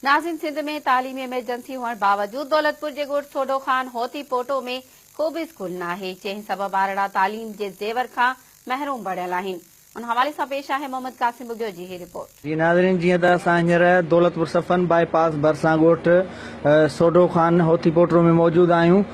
ناظرين سنڌ ۾ تعليمي ايمرجنسي هئڻ باوجود دولتپور جي ڳوٺ ٿوڏو خان هوتي پوٽو ۾ ڪوبه اسڪول ناهي جنهن سبب ٻارڙا تعليم جي زيور کان محروم بڻيل آهن ان حوالي سان پيش آهي محمد قاسم ٻگهيو جي هي رپورٽ. جي ناظرين جيئن ته اسان هينئر دولتپور صفن بائي پاس ڀرسان ڳوٺ سوڍو خان هوتي پوٽرو ۾ موجود آهيون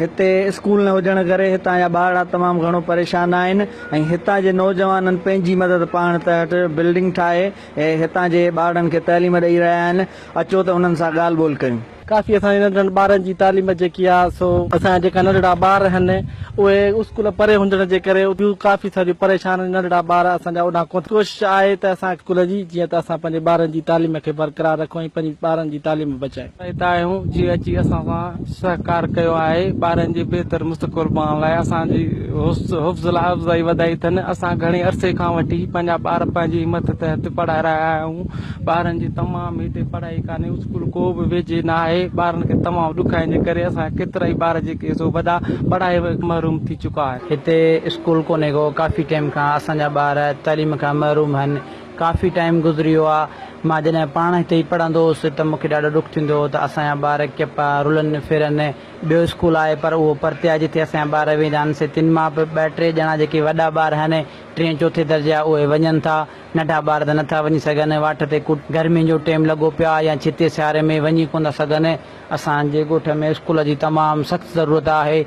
هتي اسڪول نه هجڻ ڪري هتان جا ٻارڙا تمام گهڻو پريشان آهن ۽ هتان جي نوجوانن پنهنجي مدد پاڻ تحٽ بلڊنگ ٺاهي اهي هتان جي ٻارڙن کي تعليم ڏئي رهيا آهن، اچو ته انهن سان ڳالهه ٻولهه ڪيون. ڪافي اسان جي ننڍڙن ٻارن جي تعليم جيڪي آ سو اسان جا جيڪا ننڍڙا ٻار آهن اهي اسڪول پري هجڻ جي ڪري ٻيون ڪافي ساريون پريشان آهن ننڍڙا ٻار اسان جا اوڏانهن ڪونه ڪوشش آهي ته اسان اسڪول جي جيئن ته اسان پنهنجي ٻارن جي تعليم کي برقرار رکون ۽ پنهنجي ٻارن جي تعليم بچايون. اتي آيون جي اچي اسان سان سهڪار ڪيو آهي ٻارن جي بهتر مستقبل بڻائڻ لاء اسان جي حوصلا افزائي وڌائي اٿن اسان گهڻي عرصي کان وٺي پنهنجا ٻار پنهنجي همت تحت پڙهائي رهيا آهيون ٻارن جي تمام هتي پڙهائي ڪانهي اسڪول ڪو به ويجهي نه آهي ٻارن کي تمام ڏکائين جي ڪري اسان جا ڪيترائي ٻار جيڪي سو وڏا پڙهائي محروم ٿي چڪا آهن هتي اسڪول ڪونهي ڪو ڪافي ٽيم کان اسان جا ٻار تعليم کان محروم هن ڪافي ٽائيم گذري ويو آ مان جڏهن پاڻ هتي ئي پڙهندو هوس ته مونکي ڏاڍو ڏک ٿيندو هو ته اسان جا ٻار ڪيپا رلن ڦرن ٻيو اسڪول آهي پر اهو پرتي آهي جتي اسان جا ٻار ويندا آهن سي تن مان به ٻه ٽي ڄڻا جيڪي وڏا ٻار آهن ٽين چوٿين درجي جا اهي وڃن ٿا ننڍا ٻار ته نٿا وڃي سگهن واٽ تي ڪوٽ گرمين جو ٽيم لڳو پيو آهي يا ڇتي سياري ۾ وڃي ڪونه ٿا سگهن اسان جي ڳوٺ ۾ اسڪول جي تمام سخت ضرورت آهي.